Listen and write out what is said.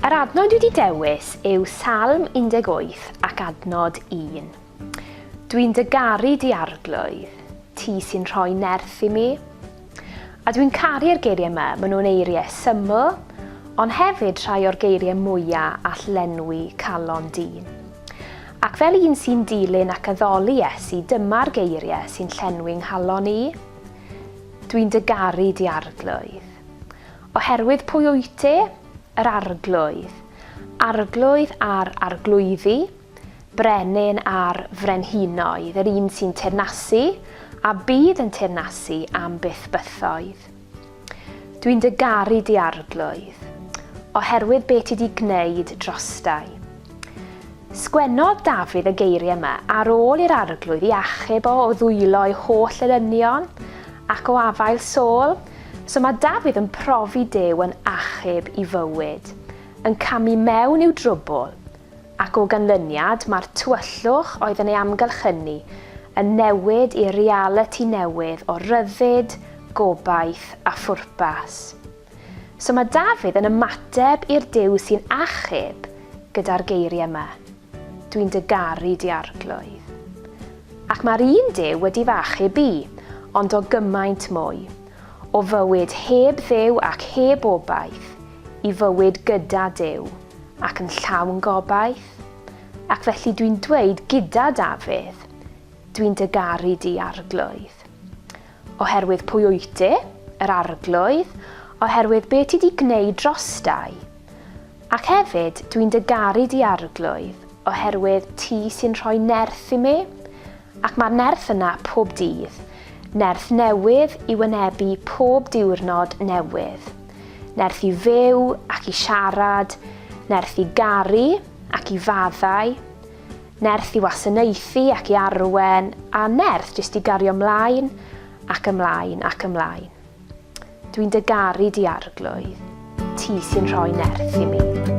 Yr adnod wedi dewis yw Salm 18 ac adnod 1. Dwi'n dygaru di arglwydd, ti sy'n rhoi nerth i mi, A dwi'n caru'r geiriau 'ma, maen nhw'n eiriau syml, ond hefyd rhai o'r geiriau mwya' all lenwi calon dyn. Ac fel un sy'n dilyn ac addoli Iesu, dyma'r geiriau sy'n llenwi 'nghalon i, Dwi'n dy garu, di Arglwydd. Oherwydd pwy wyt ti? Yr Arglwydd. Arglwydd ar arglwyddi. Brenin a'r frenhinoedd, yr un sy'n teyrnasu, a bydd yn teyrnasu am byth bythoedd. Dwi'n dy garu di Arglwydd, oherwydd be ti di gwneud drostai. Sgwennodd Dafydd y geiriau yma ar ôl i'r Arglwydd i achub o o ddwylo'i holl elynion ac o afael Saul, so mae Dafydd yn profi Duw yn achub i fywyd, yn camu mewn i'w drwbwl, ac o ganlyniad mae'r tywyllwch oedd yn ei amgylch hynny yn newid i realiti newydd o ryddid, gobaith a phwrpas. So mae Dafydd yn ymateb i'r Duw sy'n achub gyda'r geiriau yma, Dwi'n dy garu di Arglwydd. Ac mae'r un Duw wedi fy achub i, ond o gymaint mwy, o fywyd heb Dduw ac heb obaith, i fywyd gyda Duw ac yn llawn gobaith, ac felly dwi'n dweud gyda Dafydd, Dwi'n dy garu di, Arglwydd. Oherwydd pwy wyt ti, yr Arglwydd, oherwydd be ti di gwneud drostai. Ac hefyd, dwi'n dy garu di, Arglwydd, oherwydd ti sy'n rhoi nerth i mi, ac mae'r nerth yna pob dydd, nerth newydd i wynebu pob diwrnod newydd. nerth i fyw ac i siarad, nerth i garu ac i faddau, nerth i wasanaethu ac i arwen, a nerth jyst i gario mlaen ac ymlaen ac ymlaen. Dwi'n dy garu di arglwydd, ti sy'n rhoi nerth i mi.